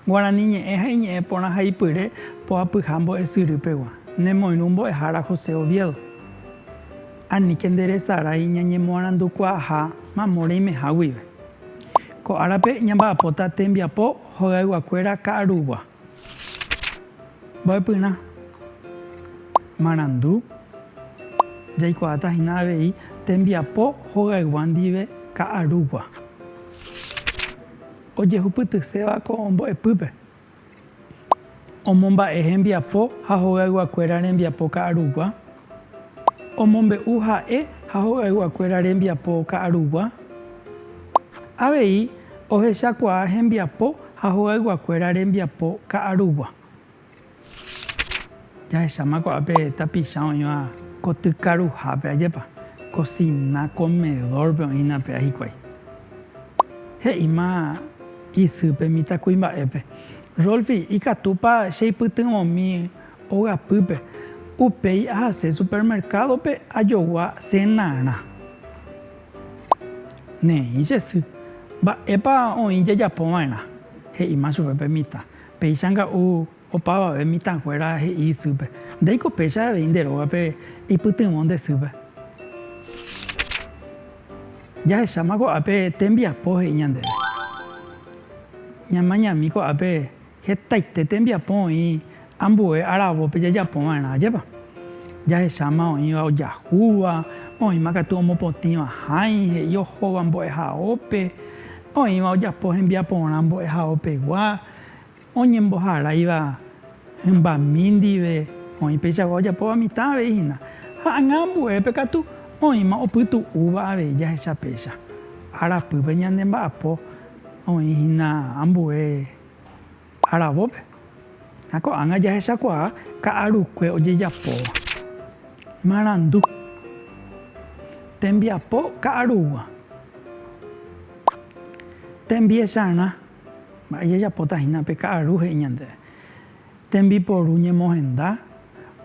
Guarani ñe'ẽ ha iñe'ẽ porã ha ipyre poapyha mbo'esyry pegua. Nemoirũ mbo'ehára José Oviedo. Aníke nderesarái ñañemoarandukuaaha mamo reimeha guive. Ko árape ñamba'apóta tembiapo hogayguakuéra ka'arugua, mbo'epyrã, marandu. Jaikuaáta hína avei tembiapo hogaygua ndive ka'arugua ojehupytyséva ko mbo'epýpe. Omomba'e hembiapo ha hogayguakuéra rembiapo ka'arugua. Omombe'u ha'e ha hogayguakuéra rembiapo ka'arugua. Avei ohechakuaa hembiapo ha hogayguakuéra rembiapo ka'arugua. Jahecháma ko'ápe tapicha oĩva ko tykaruhápe, ajépa, kosina, komedórpe oĩna pe'a hikuái. He'íma isýpe mitãkuimba'épe. Rolfi, ikatúpa cheipytyvõmi ogapýpe? Upéi ahase supermerkádope ajogua cenarã. Neĩ che sy. Mba'épa oĩ jajapova'erã? he'íma chupe pe mitã. Péicha nga'u. Opavave mitãkuéra he'i isýpe, Ndaiko péicha avei nde rógape ipytyvõ nde sýpe. Jahecháma ko'ápe tembiapo he'i ñandéve. Ñamañami ko'ápe hetaite tembiapo oĩ ambue aravópe jajapo va'erã, ajépa? Jahecháma oĩva ojahúva, oĩma katu omopotĩva hãi, he'i ohóva mbo'ehaópe, oĩva ojapo hembiaporã mbo'ehaópegua. Oñemboharáiva hymbami ndive oĩ peichagua ojapóva mitã avei hína, ha anga ambuépe katu oĩma opytu'úva avei jahecha péicha. Arapýpe ñande mba'apo oĩ hína ambue aravópe, ha ko'ág̃a jahechakuaa ka'arukue ojejapóva. Marandu. Tembiapo ka'arugua. Tembiecharã. Mba'e jajapóta hína pe ka'aru he'i ñandéve? Tembiporu ñemohenda,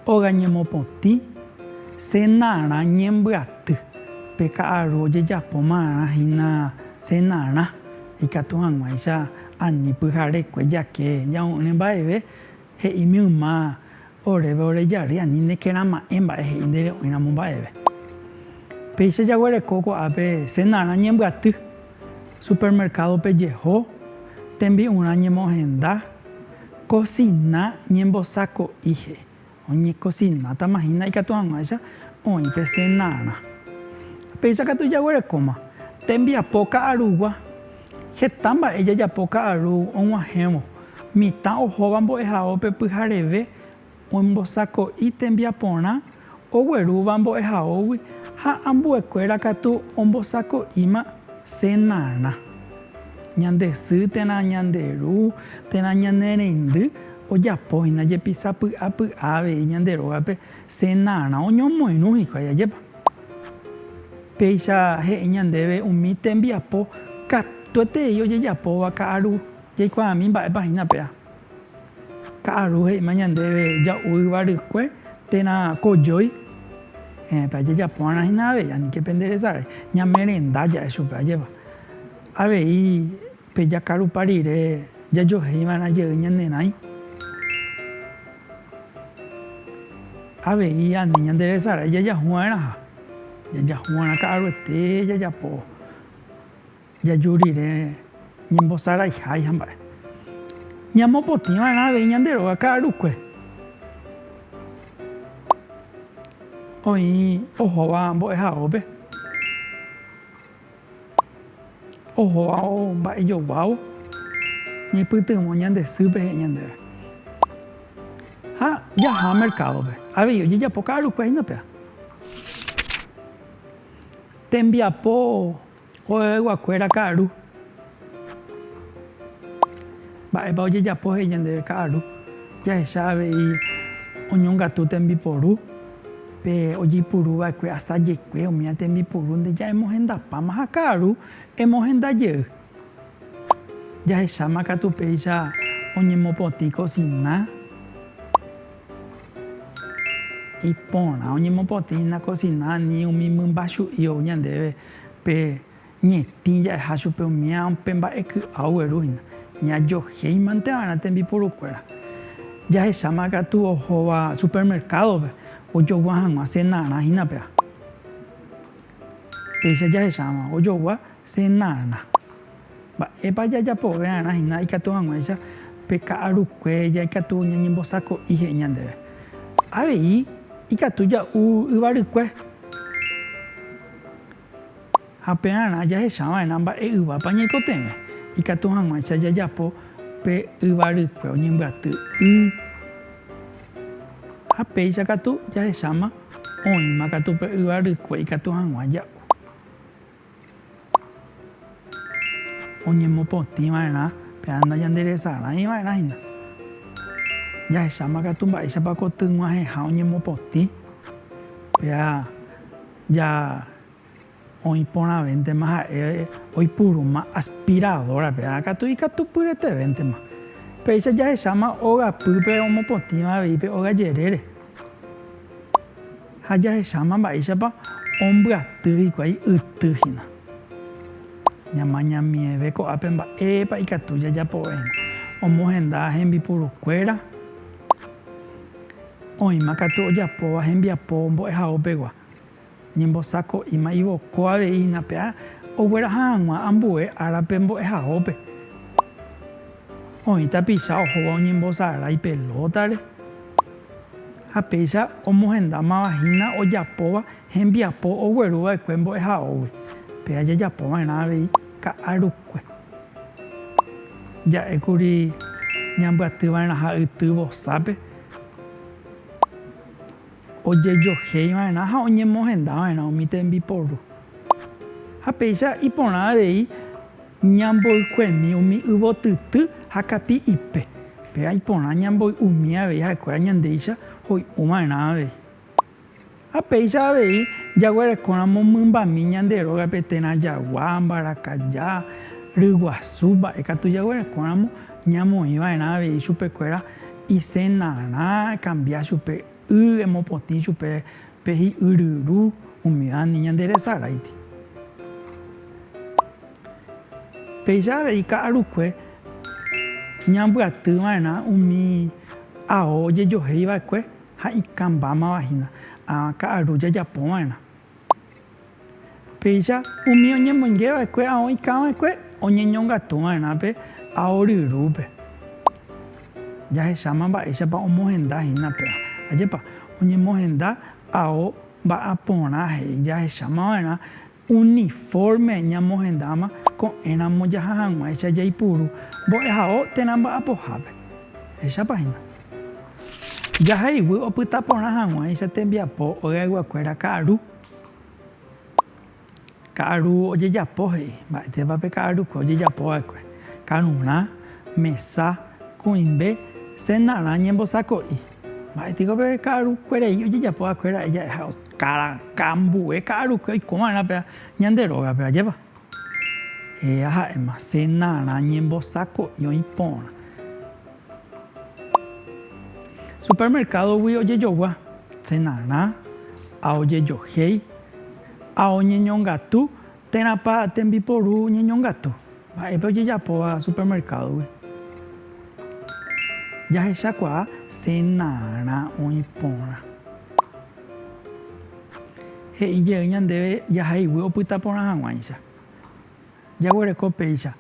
óga ñemopotĩ, cenarã ñembyaty. Pe ka'aru ojejapo marã hína cenarã, ikatu hag̃uáicha ani pyharekue jake ñamo'ỹre mba'eve He'ími yma oréve ore jary ani nekerãma'ẽ mba'e he'i nde re'õiramo mba'eve. Péicha jaguereko ko'ápe senarã ñembyaty, supermercado-pe jeho, tembi'urã ñemo'ẽhenda, cocina ñembosako'i he'i. Oñecocinátama hína ikatu hag̃uáicha oĩ pe senarã. Péicha katu jaguerekóma tembiapo ka'arugua, Heta mba'e jajapo ka'aru og̃uahẽvo. Mitã ohóva mbo'ehaópe pyhareve oñembosako'i tembiaporã oguerúva mbo'ehaógui ha ambuekuéra katu ombosako'íma cenarã. Ñande sy térã ñande ru térã ñane reindy ojapóhina jepisa py'a py'a avei ñande rógape cenarã oñomoirũ hikuái. Ajépa! Péicha he'i ñandéve umi tembiapo katuetei ojejapóva ka'aru, jaikuaami mba'épa hína péa. Ka'aru he'íma ñandéve ja'u yva rykue térã kojói, ehépa jajapó'arã hína avei aníke penderesarái, ñamerenda ja'e chupe, ajépa. Avei. Pe jakarupa rire jajoheiva'erã jey ñanerãi, avei ani ñanderesarái jajahuva'erãha. Jajahuva'erã ka'aruete jajapo jaju rire ñembosaraihái hamba'e. Ñamopotĩva'erã avei ñande róga ka'arukue. Oĩ ohóva mbo'ehaópe. Ohóva ou mba'e joguávo, ñaipytyvõ ñande sýpe he'i ñandéve. Ha jaha merkádope. Avei ojejapo ka'arukue hína péva. Tembiapo oveveguakuéra ka'aru. Mba'épa ojejapo he'i ñandéve ka'aru? Jahecha avei oñongatu tembiporu pe ojeipuru va'ekue asajekue omiã tembiporu nde ja'emohendapáma ha ka'aru emohenda jey. Jahecháma katu péicha oñemopotĩ kosina iporã, oñemopotĩ hína kosina ani umi mymba chu'i ou ñandéve pe. Ñetĩ ja'eha chupe umíva pe mba'e ky'a oguerúhina, ñajohéimante va'erã tembiporukuéra. Jahecháma katu ohóva supermercado-pe ojogua hag̃ua cenarã hína péva. Péicha jahecha hag̃ua ojogua cenarã. Mba'épa jajapove va'erã hína ikatu hag̃uáicha pe ka'arukue jaikatu ñañembosako'i he'i ñandéve? Avei ikatu ja'u yvarykue. Ha pearã jahecha va'erã mba'e yvápa ñaikotevẽ, ikatu hag̃uáicha jajapo pe yva rykue oñembyaty y. Ha péicha katu jahecháma oĩma katu pe yva rykue ikatu hag̃ua ja'u. Oñemopotĩ va'erã pe ág̃a ñande resarãi va'erã hína. Jahecháma katu mba'éichapa ko tyg̃uahẽha oñemopotĩ pe ág̃a. Ja oĩ porãvéntema ha'e oipurúma aspiradora-pe, ha katu ikatupyretevéntema. Péicha jahecháma óga pýpe omopotĩva avei pe óga jerére. Ha jahecháma mba'éichapa ombyaty hikuái yty hína. Ñamañamieve ko'ápe mba'épa ikatu jajapovéna. Omohenda hembipurukuéra. Oĩma katu ojapóva hembiapo mbo'ehaópegua, ñembosako'íma ivoko avei hína pe ogueraha hag̃ua ambue árape mbo'ehaópe. Oĩ tapicha ohóva oñembosarái pelótare ha péicha omohendámava hína ojapóva hembiapo ogueruva'ekue mbo'ehaógui. Péa jajapóva'erã avei Ka'arukue. Ja'ékuri ñambyatyva'erã ha yty vosápe, ojejohéiva'erã ha oñemohendava'erã umi tembiporu. Ha péicha iporã avei ñamboykuemi umi yvotyty ha kapi ipe. Péva iporã ñamboy'umi avei ha'ekuéra ñandéicha hoy'uva'erã avei. Ha péicha avei jaguerekóramo mymbami ñande rógape térã jagua, mbarakaja, ryguasu, mba'e katu jaguerekóramo ñamoĩ va'erã avei chupekuéra isenarã, ekambia chupe y, emopotĩ chupe pe hi'yryru umídandi ñande resaráiti. Péicha avei ka'arukue ñambyaty va'erã umi ao ojejohéi va'ekue. ha ikãmbámava hína ãva ka'aru jajapova'erã. Péicha umi oñemoingeva'ekue ao ikãva'ekue oñeñongatuva'erã pe ao ryrúpe. Jahecháma mba'éichapa omohenda hína péva. Ajépa oñemohenda ao mba'aporã he'i jahechámava'erã Uni fórme ñamohendáma ko'ẽramo jaha hag̃uáicha jaipuru mbo'ehao térã mba'apohápe. Ehechápa hína. Jaheguy opyta porã hag̃uáicha tembiapo ogaiguakuéra ka'aru. Ka'aru ojejapo he'i. Mba'etépa pe ka'arukue ojejapo va'ekue? Karurã, mesa, kuĩmbe, senarã ñembosako'i. Mba'e piko pe ka'arukuerei ojejapo va'ekuéra ha'e ja'eha karakã ambue ka'arukue oiko va'erã pe ñande rógape, ajépa? Héra ha'éma, Senarã ñembosako'i oĩ porã. Supermercado-gui ojejogua, senarã, ha ojejohéi, ha oñeñongatu. Térãpa tembiporu ñeñongatu? Mba'épe ojejapóva supermercado-gui? Jahechakuaa cenarã oĩ porã. He'i jey ñandéve jahaiguy opyta porã hag̃uáicha. Jaguereko péicha.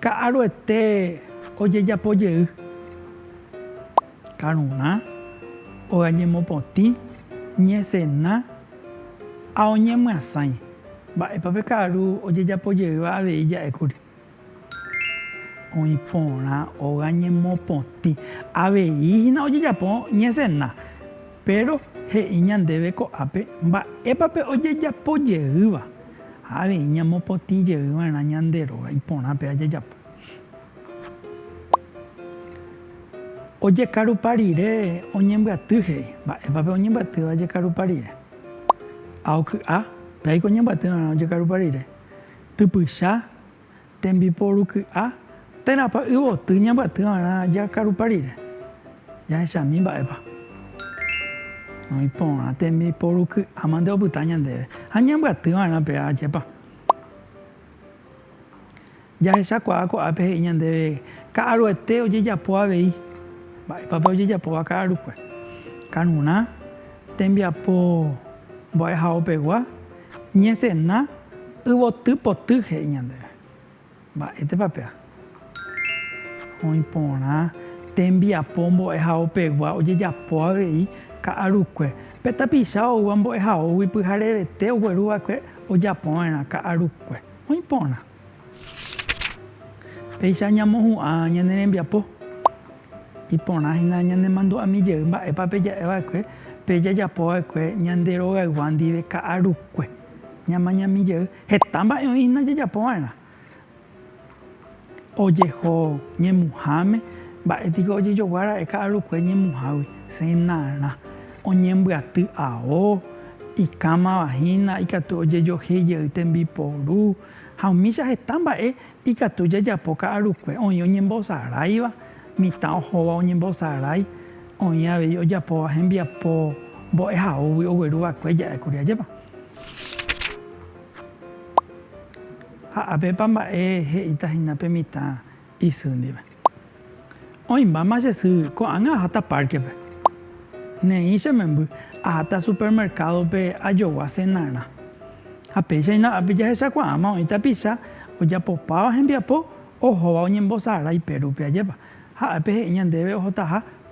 Ka'aruete ojejapo jey. Karurã ogañemopotĩ ñesena ha oñemyasãi. Mba'épa pe ka'aru ojejapo jeyva avei ja'ékuri? Oĩ porã ogañemopotĩ. Avei hína ojejapo ñesena. Péro he'i ñandéve ko'ápe mba'épa pe ojejapo jeýva, ha avei ñamopotĩ jey va'erã ñande róga iporãpe ajajapo. Ojekarupa rire oñembyaty he'i. Mba'épa pe oñembyatýva ojekarupa rire? A. Oky'a, péaiko oñembyaty va'erã ojekarupa rire. Typycha, Tembiporu ky'a, térãpa yvoty ñambyaty va'erã jakarupa rire? Jahechami mba'épa oĩ porã tembiporu ky'áma nde opyta ñandéve ha ñambyaty va'erã pe ára ajépa. Jahechakuaa ko'ápe he'i ñandéve ka'aruete ojejapo avei. Mba'épa pe ojejapóva ka'arukue? Karurã, tembiapo mbo'ehaópegua. Ñesẽna yvoty poty he'i ñandéve. Mba'étepa péva? Oĩ porã tembiapo mbo'ehaopegua ojejapo avei ka'arukue. Pe tapicha oúva mbo'ehaógui pyharevete ogueruva'ekue ojapova'erã ka'arukue. Oĩ porã. Péicha ñamohu'ã ñane rembiapo. Iporã hína ñanemandu'ami jey mba'épa peja'e va'ekue pe jajapo va'ekue ñande rogaygua ndive ka'arukue. Ñamañami jey heta mba'e oĩ hína jajapo va'erã. Ojeho ñemuháme, mba'e tiko ojejogua ra'e ka'arukue ñemuhágui. Cenarã. Oñembyaty ao, ikámava hína ikatu ojejohéi jey tembiporu, ha umícha heta mba'e ikatu jajapo ka'arukue. Oĩ oñembosaráiva, mitã ohóva oñembosarái, oĩ avei ojapóva hembiapo mbo'ehaógui ogueru va'ekue ja'e kuri. Ajépa? Ha apépa mba'e he'íta hína pe mitã? isy ndive. Oĩmbáma che sy, ko'ág̃a aháta párkepe. Neĩ che memby, aháta supermerkádope ajogua senarã. Ha péichaina ápe jahechakuaáma oĩ tapicha ojapopáva hembiapo ohóva oñembosarái pérupe ajépa. Ha ápe he'i ñandéve ohotaha